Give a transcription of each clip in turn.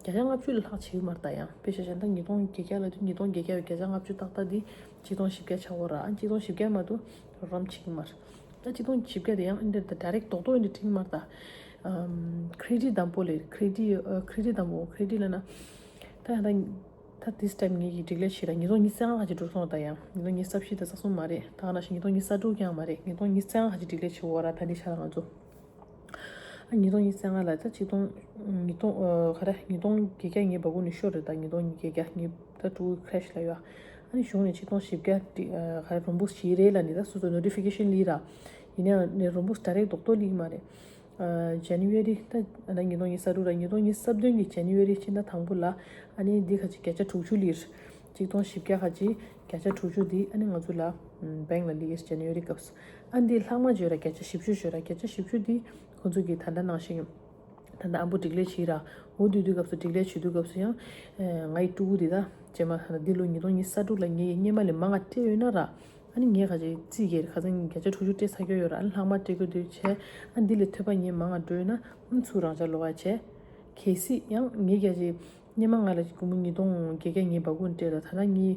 བརྒྱ་ཆ་ལྔ་བཅུ་ལ་ལྷག་བྱེད་ཡུལ་མར་བལྟ་ཡང་དཔེ་ཆ་གཞན་དག་ཉིས་སྟོང་བརྒྱད་བརྒྱ་ལ་དུས་ཉིས་སྟོང་བརྒྱད་བརྒྱ་ཡོད་བརྒྱ་ཆ་ལྔ་བཅུ་ཏག་ཏག་འདི་གཅིག་སྟོང་བཞི་བརྒྱ་ཆགས་འོ་ར་ཨ་གཅིག་སྟོང་བཞི་བརྒྱ་མ་དུ་རོ་རམ་བྱེད་ཀྱི་མ་རེད་ད་གཅིག་སྟོང་བཞི་བརྒྱ་དེ་ཡང་ཨི་འདྲེ་ད་རེག་རྡོག་རྡོག་ཨི་འདྲེ་བྲིས་མར་བལྟ Credit དམ་པོ་ལས Credit Credit དམ་པོ Credit ལས་ན་ད་ཡང་ད་ད This Time ངེད་ཀྱིས་སྒྲིག་ལས་བྱེད་ད་ཉིས་སྟོང་ཉིས་བརྩེགས་ལྔ་ལྷག་གཅིག་འགྲོ་སོང་བལྟ་ཡང་ཉིས་སྟོང་ཉིས་ས་བཞི་ད་ས་གསུམ་མ་རེད་ད་ང་ན་ཞིག་ཉིས་སྟོང་ཉིས་ས་དྲུག་ཀྱང་མ་རེད་ཉིས་སྟོང་ཉིས་བརྩེགས་ལྔ་ལྷག་གཅིག་སྒྲིག་ལས་བྱེད་འོ་ར་ད་འདི་ཆ་ད་ང་ཚོ། ཉིས་སྟོང་ཉིས་བརྒྱ་ཉེར་ལྔ་ལ་ཆིག་སྟོང། ཁ་ར། ཉིས་སྟོང་བརྒྱད་བརྒྱ་ཉེར་པ་གུང་ནས་ཤོར་རེད་ད་ཉིས་སྟོང་ཉིས་བརྒྱ་བརྒྱ་ཉིས་ད་དྲུག་གི Crash ལ་ཡོད། གཞུང་ནས་ཆིག་སྟོང་བཞི་བརྒྱ་ཁ་ར་རུམ་བུ་བཞི་རེད་ལ་འདི་ད་སོ་སོ Notification ལིས་ར། ཡིན་ན་ཡང་རུམ་བུ Direct རྡོག་རྡོག་ལིས་མ་རེད། January ད་ད་ཉིས་སྟོང་ཉིས་གསར་དྲུག་ར་ཉིས་སྟོང་ཉིས་གསར་བདུན་གི January སྤྱི་ཟླ་དང་པོ་ལ་ཨཱ་ནི་འདི་ཁ་ཅིག་བརྒྱ་ཆ་དྲུག་ཅུ་ལིས། ཆིག་སྟོང་བཞི་བརྒྱ་ཁ་ཅིག་བརྒྱ་ཆ་དྲུག་ཅུ་འདི་ཨཱ་ནི་ང་ཚོ་ལ Bank ལ་ལིས January སྐབས། ཨ་འདིས་ལྷག་མ་བརྗོད་ར་བརྒྱ་ཆ་བཞི་བཅུ་བརྗོད་ར་བརྒྱ་ཆ་བཞི་བཅུ་འདི་ཁོ་ཚོ་གིས་ད་ལྟ་ནང་བཞིན་ད་ལྟ་ཨ་འབུ་སྒྲིག་ལས་བྱེད་ར་འོ་བསྡུ་དུས་སྐབས་སུ་སྒྲིག་ལས་བྱེད་དུས་སྐབས་སུ་ཡང་ང་ཡི་སྤྲུ་གུ་དེ་དག་བྱེད་མ་ད་ལྟ་འདི་ལོ་ཉིས་སྟོང་ཉིས་ས་དྲུག་ལ་ངེད་ཡི་སྙེ་མ་ལས་མ་ང་སྤྲད་ཡོད་ན་ར་ཨ་ནི་ངེད་ཁ་ཆེ་རྩིས་བརྒྱད་ཁ་ཚང་བརྒྱ་ཆ་དྲུག་ཅུ་སྤྲད་ཚར་གྱོ་ཡོད་ར་ཨ་ལ་ལྷག་མ་སྤྲད་དགོས་དུས་བྱས་ཨ་འདི་ལས་ཐོད་པ་ངེད་མ་ང་འགྲོ་ཡོད་ན་ཨ་ཚུགས་རང་བྱ་ལོ་ཨ་བྱས། གལ་སྲིད་ཡང་ངེད་བརྒྱ་ཆའི་སྙེ་མ་ང་ལ་གུ་མུ་ཉིས་སྟོང་བརྒྱད་བརྒྱ་ངེད་འབའ་གུ་ང་སྤྲད་ར་ད་ལྟ་ངེད་ཡི།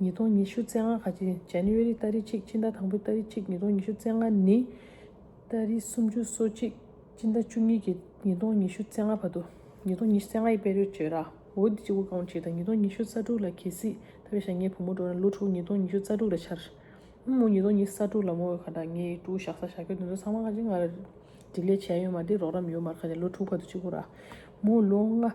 ཉིས་སྟོང་ཉི་ཤུ་ཚེས་ལྔ་ཁ་ཆེ། January། སྟ་རེ་གཅིག་སྤྱི་ཟླ་དང་པོའི་སྟ་རེ་གཅིག་ཉིས་སྟོང་ཉི་ཤུ་ཚེས་ལྔ་ནི། སྟ་རེ་སུམ་ཅུ་སོ་གཅིག་སྤྱི་ཟླ་བཅུ་གཉིས་ཀྱི་ཉིས་སྟོང་ཉི་ཤུ་ཚེས་ལྔ་བར་དུ། ཉིས་སྟོང་ཉི་ཤུ་ཚེས་ལྔ་ཡི་དཔལ་རོལ་བཅོས་ར་འོ་འདི་ཅིག་འུ་གང་བྱས་དང་ཉིས་སྟོང་ཉི་ཤུ་རྩ་དྲུག་ལ་གྱེས་སྲིད་ཐ་བའི་ཞག་ངའི་བུ་མོ་འགྲོ་ན་ལོ་དྲུག་ཉིས་སྟོང་ཉི་ཤུ་རྩ་དྲུག་ལ་འཆར། ཨུ་མོ་ཉིས་སྟོང་ཉི་ཤུ་རྩ་དྲུག་ལ་མོ་འོས་ཁ་དང་ངའི་དྲུག་ཞག་ས་ཞག་གྱོད་དེ་ཚོ་ཚང་མ་ཁ་ཆེ་ང་ར་སྒྲིག་ལས་བྱས་ཡོད་མ་དེ་རོགས་རམ་ཡོད་མར་ཁ་ཆེ་ལོ་དྲུག་བར་དུ་གཅིག་པུ་ར་མོ་ལོ་ལྔ།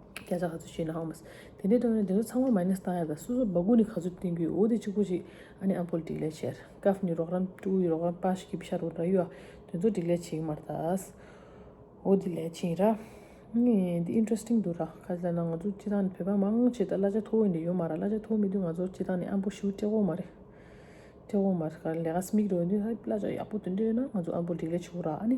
རྒྱ་ཆ་ག་ཚོད་ཞེས་ནའང་མི་ཟེར། དེ་འདྲའི་དོན་ནི་དེ་ཚོ་ཚང་མ་མཱེནས་བཏང་ཡ་དང་སོ་སོ་སྦ་གུ་ནི་ག་ཚོད་བསྟེན་རྒྱུའི་འོ་དེ་གཅིག་པོ་གཅིག་ཨ་ནི་ཨ་པོལ་སྒྲིག་ལས་བྱེད། ཀཱབ་ནི་རོགས་རམ་སྤྲུལ་སྐུ་ཡི་རོགས་རམ་པ་ཞིག་གིས་ཤར་བུ་འདྲ་ཡོད་ཨ་དེ་ཚོ་སྒྲིག་ལས་བྱེད་ཀྱི་མ་རེད་དཱ། འོ་དེ་ལས་བྱེད་ར། ངས་འདི Interesting འདུག་ར་ག་ཚོད་ལ་ན་ང་ཚོ་སྤྱི་བཏང་ནི་བོད་པ་མང་ཆེ་དག་གླ་ཆ་མཐོ་བོ་ཡིན་དུས་ཡོད་མ་ར་གླ་ཆ་མཐོ་བོ་མེད་དུས་ང་ཚོ་སྤྱི་བཏང་ནི་ཨ་པོ་ཤིའུ་སྤྲེ་འོ་མ་རེད། སྤྲེ་འོ་མ་རེད་ག་ལས་ག་སྨིག་རེད་འོ་དེ་གླ་ཆ་ཡག་པོ་དེ་འདྲ་ཡོད་ན་ང་ཚོ་ཨ་པོལ་སྒྲིག་ལས་བྱེད་འོ་ར་ཨ་ནི།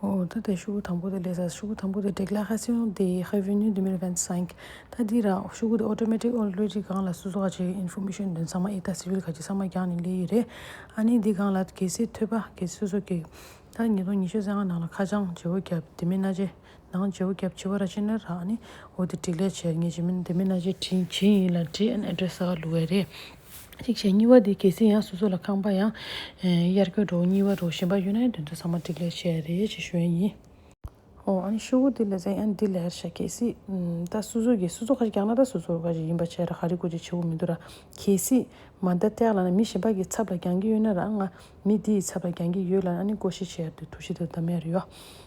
འོ་ད་དེ་ཤུ་གུ་དང་པོ་དེ་ལས་ས་ཤུ་གུ་དང་པོ་དེ་བྲེག་ལ་ཧ་སེའོ་དེ་ཧེ་བྷི་ནུའི་དེ་མེར་གན་སང་ད་དེ་ར་ཤུ་གུ་དེ་ཨོ་ཏོ་མེ་ཏིག་ཨོ་ལེ་རི་གང་ལ་སུ་སོ་ག་ཆེ་གི་ཨིན་ཧྥུ་མེ་ཤོན་དོན་ཚང་མ་ཨི་ད་སི་བྷིལ་ག་ཆེ་ཚང་མ་རྒྱག་ནས་ལེ་ཡི་རེད་ཨ་ནི་དེ་གང་ལ་གེ་སེ་ཐོད་པ་གེ་སོ་སོ་གེ་ད་ཉིས་སྟོང་ཉི་ཤུ་ཚན་ང་ནང་ལ་ཁ་བྱང་བྱེ་བོ་རྒྱབ་དེ་མེ་སྣ་ཅེ་ནང་སྦྱོར་བརྒྱབ་བྱས་པ་ར་ཅི་ནི་རག་ནི་འོ་དེ་བྲིས་ལས་བྱེད་ངེས་ཅི་མིན་དེ་མིན་ན་ཅི་བྲིས་ཇི་ཡིན་ལ་བྲིས་ཨན address ཟ་བ་ལུགས་བས་རེད། གཅིག་བྱས་གཉིས་བ་དེ་གལ་སྲིད་ཡང་སོ་སོ་ལ་ཁང་པ་ཡང་དབྱར་སྐྱོར་འགྲོ་གཉིས་བ་འགྲོ་ཞེན་པ་ཡོད་ན་ཡང་དོན་དུ་ཟ་མ་བྲིས་ལས་བྱེད་རེད་ཅེས་ཞུ་ཡན་ཡིན། ཨོ་ཨན་ཤོག་བུ་དེ་ལས་ཟེར་ཨན་དེ་ལས་བྱེད་གལ་སྲིད་ད་སོ་སོ་གིས་སོ་སོ་ཁ་ཅིག་བཀྱག་ན་ད་སོ་སོ་ཁ་ཅིག་ཡིན་པ་བྱས་ར་ཧ་རི་ཀོ་ཅིག་བྱེད་པོ་མི་འདུག་ར་གལ་སྲིད་མ་ད་བཀྱག་ལ་ན་མི་གཞན་པ་གི་ཚབ་ལ་འགྱང་གི་ཡོད་ན་ར་ང་མི་དེ་ཡི་ཚབ་ལ་འགྱང་གི་ཡོད་ལ་ཨ་ནི་ཀོ་ཤི་བྱས་ར་དེ་ཐུགས་ཤི་དེ་ད་མེ་རི་ཡོ།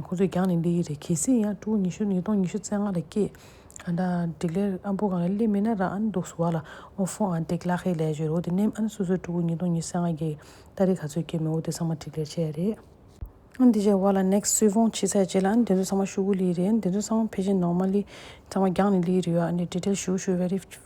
ཁོ་ཚོས་རྒྱང་ནས་འདི་ཡི་རེད་གལ་སྲིད་ཡང་སྤྲུལ་སྐུ་ཉི་ཤུ་ཉིས་སྟོང་ཉི་ཤུ་རྩེ་ལྔ་ལ་སྐྱེས། ཨ་ད་འགྲིག་ལེ་ཨ་འབུ་གང་ལ་སླེབས་མིན་ན་ར་ཨན་འདུག་སུ་བ་ལ་ཨོ་ཧྥོ་ཨན་འགྲིག་ལག་ཧེ་ལས་བྱོས་རོ་དེ་ནེམ་ཨན་སུ་སུ་སྤྲུལ་སྐུ་ཉིས་སྟོང་ཉི་རྩེ་ལྔ་སྐྱེས་ཨ་རི་ག་ཚོད་སྐྱེས་མི་འོ་དེ་ཚང་མ་འགྲིག་ལེ་བྱས་རེད། ཨན་དེ་བྱས་བ་ལ next སུས་ཧྥོང་ཕྱི་ཚད་བྱས་ལ་ཨན་དེ་ཚོ་ཚང་མ་ཤུ་གུ་ལི་ཡི་རེད་ཨན་དེ་ཚོ་ཚང་མ་ཕེ་ཅིན་ནོག་མ་ལི་ཚང་མ་རྒྱང་ནས་ལི་ཡི་རེད་ཨ་ནི་འགྲིག་ལེ་ཞུ་ཞུ very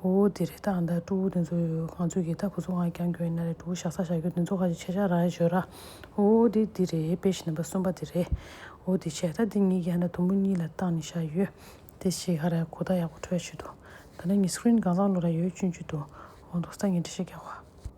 ཨོ་དེ་རེད་ད་ཨ་མདའ་སྤྲུ་བོ་དེ་ཚོ་ཡོད་གང་ཚོད་ཀྱི་ད་ཁོ་ཚོ་ང་གྱང་གྱོན་ཡིན་ན་རེད་སྤྲུ་བོ་ཞག་ས་ཞག་གྱོན་དེ་ཚོ་ཁ་ཅིག་ཆེ་ཆ་ར་ཡོད་ར། ཨོ་དེ་དེ་རེད་དཔེ་བཞིན་པ་གསུམ་པ་དེ་རེད། ཨོ་དེ་ཆེ་ད་དེ་གཉིས་ཀྱི་ཨ་མདའ་དུམ་བུ་གཉིས་ལ་བཏགས་ནས་བཞག་ཡོད། དེ་ཆེ་ཁ་ར་གོ་ད་ཡག་པོ་འཕྲོད་ཡ་ཆུ་འདུག་ད་ནངས་ངའི screen གང་ཟག་བློ་ར་ཡོད་གཅུན་གྱི་འདུག་འོང་འདུག་ས་ངས་འདྲི་བཤད་རྒྱག་བ།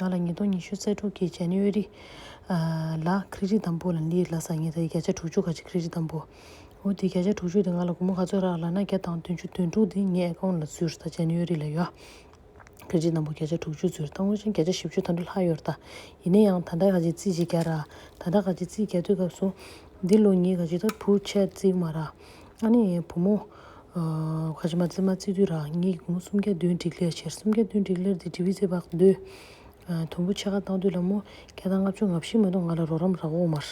ང་ལ་ཉིས་སྟོང་ཉི་ཤུ་རྩ་དྲུག་གི་ཇཱ་ནེ་ཝེ་རི། ལ་ཁྲི་རི་དང་པོ་ལ་ལི་ཡི་ལ་སང་ཉིན་ད་ཡི་བརྒྱ་ཆ་དྲུག་ཅུ་ག་ཅིག་ཁྲི་རི་དང་པོ། འོ་དེ་བརྒྱ་ཆ་དྲུག་ཅུ་དེ་ང་ལ་དགུང་མོ་ག་ཚོད་རག་ལ་ན་བརྒྱ་དང་བདུན་ཅུ་དོན་དྲུག་དེ་ངའི་ཨེ་ཀའོ་ན་ལ་བཙུར་ད་ཇཱ་ནེ་ཝེ་རི་ལ་ཡོད། ཁྲི་རི་དང་པོ་བརྒྱ་ཆ་དྲུག་ཅུ་བཙུར་ད་དངོས་བྱིན་བརྒྱ་ཆ་བཞི་བཅུ་ད་འདྲུ་ལྷག་ཡོར་ད། ཡིན་ན་ཡང་ད་ད་ག་ཅིག་རྩིས་ཅིག་རྒྱག་རག་ད་ད་ག་ཅིག་རྩིས་རྒྱག་དུས་སྐབས་སུ། འདི་ལོ་ཉིས་ག་ཅིག་ད་བུ་ཆད་རྩིས་མ་རག། ཨ་ནེ་ཡའི་བུ་མོ། ཁ་ཆེ་མ་བརྩེ་མ་བརྩེ་དུས་རང་ཉིད་ཀྱི་གུང་གསུམ་གྱ་སྟོན་འགྲིག་ལེར་བྱེད་གསུམ་གྱ་སྟོན་འགྲིག་ལེར་དེ་འབྲི་བུའི་ཚེ་བག་སྡོད། དུམ་བུ་ཕྱེད་ཀ་བཏང་དུས་ལ་མོ་བརྒྱ་དང་ལྔ་བཅུ་ང་བཞི་མ་གཏོགས་ང་ལ་རོགས་རམ་རག་འོག་མར།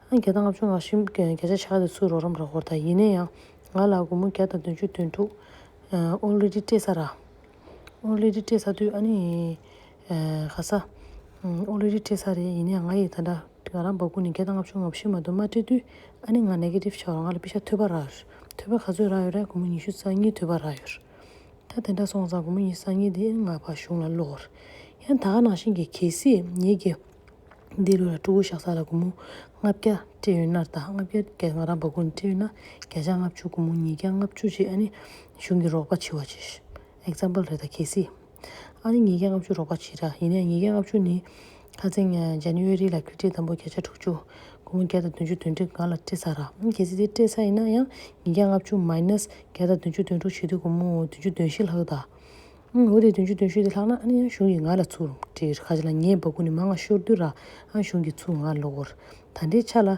བརྒྱ་དང་ལྔ་བཅུ་ང་བཞི་བརྒྱ་ཆ་ཕྱེད་ཀ་དེ་ཚོས་རོགས་རམ་རག་འོག་ད་ཡིན་ན་ཡང་ང་ལ་དགུང་མོ་བརྒྱ་དང་དོན་བཅུ་དོན་དྲུག། ཨོ་ལེ་ལེ་སྤྲད་ས་ར། ཨོ་ལེ་ལེ་སྤྲད་ས་དུས་ཨ་ནེ་ཡའི། ག་ས། ཨོ་ལེ་རི་སྤྲད་ས་རེད་ཡིན་ན་ཡང་ང་ཡིས་ད་ལྟ་ང་རང་འབབ་གོ་ནས་བརྒྱ་དང་ལྔ་བཅུ་ང་བཞི་མ་གཏོགས་མ་སྤྲད་དུས་ཨ་ནེ་ང Negative ཆགས་རོགས་ང་ལ་པི་ཤ་ཐོད་པ་རགས་ཐོད་པ་ག་ཚོད་རགས་ཡོད་རེད་དགོང་མོ་ཉི་ཤུ་རྩ་གཉིས་ཐོད་པ་རགས་ཡོད། ད་དེ་འདྲ་སོང་ཙང་དགོང་མོ་ཉི་རྩ་གཉིས་དེ་ང་ཕ་གཞུང་ལ་ལོག་ཡང་ད་ནང་བཞིན་གྱི་གལ་སྲིད་ངེད་རྒྱལ་འདི་ལོ་ལ་ཀྲུ་གོ་བཞག་ས་ལ་དགོང་མོ་ལྔ་བརྒྱ་སྤྲད་ཡོད་ནར་ད་ལྔ་བརྒྱ་བརྒྱ་ང་རང་འབབ་གོ་ནས་སྤྲད་ཡོད་ན་བརྒྱ་ཆ་ལྔ་བཅུ་དགོང་མོ་ཉིས་བརྒྱ་ལྔ་བཅུ་རྗེས་ཨ་ནེ་གཞུང་གི་རོགས་པ་བྱས་བ་ཅིག Example རེད་ད་གལ་སྲིད། ཨ་རིའི་ཉིས་བརྒྱ་ལྔ་བཅུ་རོགས་པ་བྱེད་དྲགས། ཡིན་ནའི་ཉིས་བརྒྱ་ལྔ་བཅུ་ནི། ཁ་ཚིག། January། ལ་བཀྲིས་བཀྲིས་དམ་པོ་བརྒྱ་ཆ་དྲུག་ཅུ། དགུང་ལོ་བརྒྱ་དང་བདུན་ཅུ་དོན་ཁྲི་འགའ་ལ་བཀྲིས་ཚར་ར། གལ་སྲིད་དེ་བཀྲིས་ཚར་ཡིན་ན་ཡང། ཉིས་བརྒྱ་ལྔ་བཅུ minus བརྒྱ་དང་བདུན་ཅུ་དོན་དྲུག་བྱེད་དུས་དགུང་མོ་བདུན་ཅུ་བདུན་བཞི་ལྷག་ཡོད་ད། འོ་དེ་བདུན་ཅུ་དོན་བཞི་དེ་ལྷག་ན་ཨ་ནི་ཡང་གཞུང་གི་ང་ལ་ཚུར་བཀྲིས་ར། ཁ་ཅིག་ལ་ངའི་འབག་སྐུ་ནི་མ་ང་ཤོར་དུས་ར། ཨ་གཞུང་གི་ཚུར་ང་ལོག་གོ་ར། ད་ལྟའི་ཆ་ལ།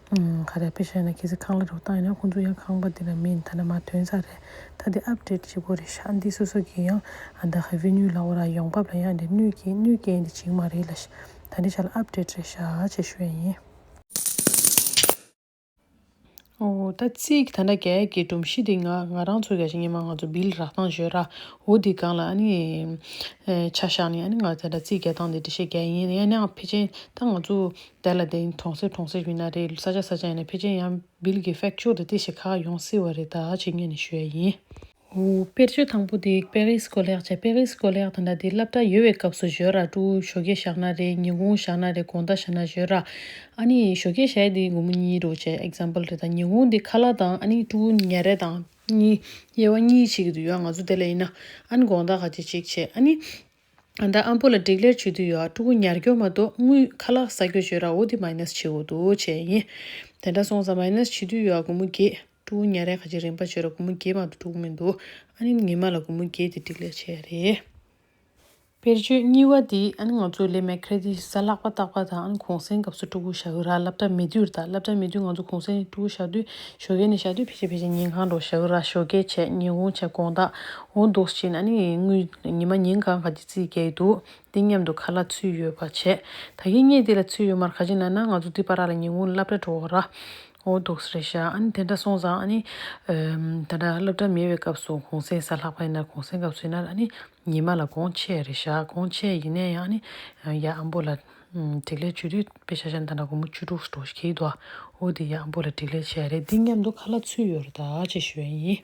ག་རེ་ཕེ་བཤད་ན་ཁྱེད་ཚོས་ཁང་གླ་རོགས་བཏང་ཡོད་ན་ཁོང་ཚོ་ཡང་ཁང་པ་འདི་ལ་མིན་ཐ་ན་མ་ཐོན་ས་རེད་ད་དེ་ཨབ་ཏྲེད་བྱེད་དགོས་རེད་ཤག་འདི་སོ་སོ་གིས་ཡང་ཨ་ད་ཧེ་བི་ནུའི་ལ་འོ་ར་ཡོང་བབ་ལ་ཡང་འདི་གནོད་སྐྱེལ་གནོད་སྐྱེལ་འདི་བྱིང་མ་རེད་ལ་ཤག་ད་འདི་ཤག་ལ་ཨབ་ཏྲེད་རེད་ཤག་བྱེད་ཤོད་ཡིན། འོ་ད་ཚིག་ད་འདྲ་རྒྱ་ཡག་གི་སྒྲོམ་གཞི་འདི་ང་ང་རང་ཚོ་ག་ཤེད་ཉི་མ་ང་ཚོ་བིལ་རག་ཐང་ཞོད་ར་འོ་འདི་གང་ལ་ཨ་ནི་ཆ་ཤག་ནི་ཨ་ནི་ང་ད་འདྲ་ཚིག་རྒྱ་ཐང་འདི་འདྲ་ཤེད་རྒྱ་ཡིན་ཡང་ནའང་ཕེ་ཅན་ད་ང་ཚོ། དེ་ལ་བརྟེན་གྲོང་གསེབ་གྲོང་གསེབ་ཡིན་ན་རེད་ས་ཆ་ས་ཆ་ཡིན་ན་ཕལ་ཆེར་ཡང་བིལ་གྱི་ཧྥེག་ཆོས་དེ་དེ་ཞིག་ཁག་ཡོང་སྲིད་བ་རེད་ད་ཇི་སྙེད་ནས་ཞུས་ཡ་ཡིན། དཔེར་བརྗོད་དང་པོ་དེ་པེ་རིས་སྐོར་ལེགས་བྱས་པེ་རིས་སྐོར་ལེགས་དང་འདྲ་དེ་སླབ་གྲྭ་ཡོལ་བའི་སྐབས་སུ་བཞོས་ར་ཀྲུའུ་བཞོ་སྐྱེས་བཞག་ན་རེད་ཉིན་གུང་བཞག་ན་རེད་གོང་ད་བཞག་ན་བཞོས་ར་ཨ་ནི་བཞོ་སྐྱེས་བཞག་དེ་དགོང་མོ་གཉིས་རེད་བྱས example རེད་ད་ཉིན་གུང་དེ་ཁ་ལག་དང་ཨ་ནི་ཀྲུའུ་ཉལ་རེ་དང་གཉིས་དབྱེ་བ་གཉིས་བྱེད་ཀྱི་འདུག་ཡང་ང་ཚོ་དེ་ལ་ཡིན་ན་ཨ་ནི་གོང་ད་ག་བྱེད་ཅིག་བྱས་ཨ་ནི། ད་ཨ་འབོ་ལ་སྒྲིག་ལེར་བྱོས་དུས་ཡོད་ཀྲུ་གུ་ཉར་སྐྱོར་མ་གཏོགས་དངུལ་ཁ་ལག་ས་ཁྱོ་བྱོས་ར་འོ་དེ་མཱིནས་བྱེད་འོ་དུ་བྱས་ཡིན་དེ་འདྲ་སོང་ས་མཱིནས་བྱེད་དུས་ཡོད་གུ་མུ་རྒྱས་ཀྲུ་གུ་ཉར་ཡ་ཁ་ཅིག་རིན་པ་བྱོས་ར་གུ་མུ་རྒྱས་མ་ཏུ་ཀྲུ་གུ་མི་འདུག་ཨ་ནིན་ངེད་མ་ལ་གུ་མུ་རྒྱས་དེ་སྒྲིག་ལེར་བྱས་ཡ་རེད། དཔེར་བརྗོད་གཉིས་བ་དེ་ཨ་ནི་ང་ཚོ་ལས་མེད་ཁྲེ་དི་ས་ལག་པ་བཏགས་པ་དང་ཨ་ནི་གུང་སེང་སྐབས་སུ་ཀྲུ་གུ་བྱ་གུ་ར་སླབ་གྲ་མེད་དུས་ར་དང་སླབ་གྲ་མེད་དུས་ང་ཚོ་གུང་སེང་ནས་ཀྲུ་གུ་བྱ་དུས་ཞོ་གས་ནས་བྱ་དུས་ཕེ་ཆ་ཕེ་ཆ་ཉིན་གང་འགྲོ་བྱ་གུ་ར་ཞོ་གས་བྱས་ཉིན་གུང་བྱས་དགོང་དག་འོ་འདུག་ཅེས་ན་ནི་དངུལ་ཉི་མ་ཉིན་གང་ག་གི་རྩིས་རྒྱག་གི་འདུག་འདི་སྙམ་དུ་ག་ལ་ཚུལ་ཡོད་པ་བྱས། ད་ཁྱེད་གཉིས་འདི་ལ་ཚུལ་ཡོད་མར་ག་ཅི་ན་ན་ང་ཚོ་འདི་པ་ར་ལ་ཉིན་གུང་སླབ་གྲྭ་འགྲོ་ར། འོ་འདུག་རེད་བཞག་ཨ་ནི་དེ་འདྲ་སོང་ཙང་ཨ་ནི། ད་ད་སླབ་གྲྭ་མེད་པའི་སྐབས་སུ་གུང་སེང་ས་ལྷག་པ་ཡིན་ན་གུང་སེང་སྐབས་སུ་ཡིན་ན་ཨ་ནི་ཉི་མ་ལ་དགོང་ཆས་རེད་བཞག་དགོང་ཆས་ཡིན་ན་ཡང་ཨ་ནི་ཡ་ཨ་འབོ་ལ་དྲིག་ལེ་བྱོས་དུས་དཔེ་ཆ་ཆ་ད་ན་དགོང་མོ་བཅུ་དྲུག་ཟེར་འགྲོ་གི་འདུག་ཨ་འོ་དེ་ཡ་ཨ་འབོ་ལ་དྲིག་ལེ་བྱས་རེད་འདི་སྙམ་དུ་ག་ལ་ཚུལ་ཡོད་ར་ད་ཅེས་ཞུ་ཡ་ཡིན།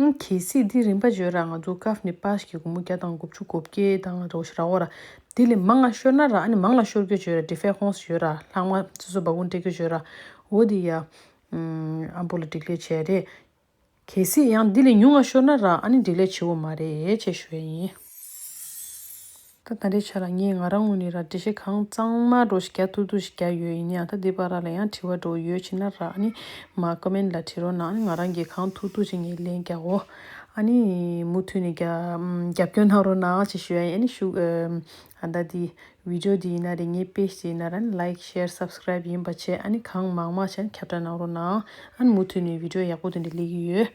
ཨང་གི་སི་དེའི་རིན་པ་བརྗོད་ར་ང་ཚོ་ཀཱ་ནི་པཱས་ཀྱི་གུ་མོ་བརྒྱ་དང་དགུ་བཅུ་གོ་བརྒྱད་དང་རོ་ཞི་ར་ཨོ་ར་དེ་ལས་མང་ང་ཤོར་ན་ར་ཨ་ནི་མང་ལ་ཤོར་གྱོད་བརྗོད་ར་དྲི་ཕེ་ཧོང་སི་བརྗོད་ར་ལྷག་མ་སི་སོ་བ་གུང་ཏེ་གྱོད་བརྗོད་ར་ཨོ་དེ་ཡ་ཨམ་པོ་ལ་འགྲིག་ལས་ཆེ་རེད། གལ་སྲིད་ཡང་དེ་ལས་ཉུང་ང་ཤོར་ན་ར་ཨ་ནི་འགྲིག་ལས་ཆེ་བོ་མ་རེད་ཅེས་ཞུ་བས་ཡིན། ད་ད་རེས་ཆ་ལ་ངས་ང་རང་ངོས་ནས་ར་འདྲེ་ཞིག་གང་གཙང་མ་འགྲོ་ཞིག་རྒྱ་ཐུག་ཐུག་ཞིག་རྒྱག་ཡོད་ཡིན་ཡང་ད་འདི་པ་ར་ལ་ཡང་དྲི་བ་འདྲོག་ཡོད་ཕྱིན་ན་ར་ཨ་ནི་མ་ཀ་མེན་ལ་དྲི་རོགས་གནང་ང་རང་གིས་གང་ཐུག་ཐུག་ཞིག་ངས་ལན་རྒྱག་གོ་ཨ་ནི་མུ་མཐུད་ནས་རྒྱབ་སྐྱོར་གནང་རོགས་གནང་ཅེས་ཞུ་ཡ་ཡིན་ཨ་ནི་ཞུགས་ཨ་ད་དེ Video འདི་ཡིན་ན་རེ་ངའི Page དེ་ཡིན་ན་ར་ཨ་ནི Like Share Subscribe ཡིན་པ་བྱས་ཨ་ནི་གང་མང་མང་བྱས་ཨ་ནི་ཁྱབ་བསྒྲགས་གནང་རོགས་གནང་ཨ་ནི་མུ་མཐུད་ནས Video ཡག་པོ་འདི་འདྲ་སླེབས་ཀྱི་ཡོད།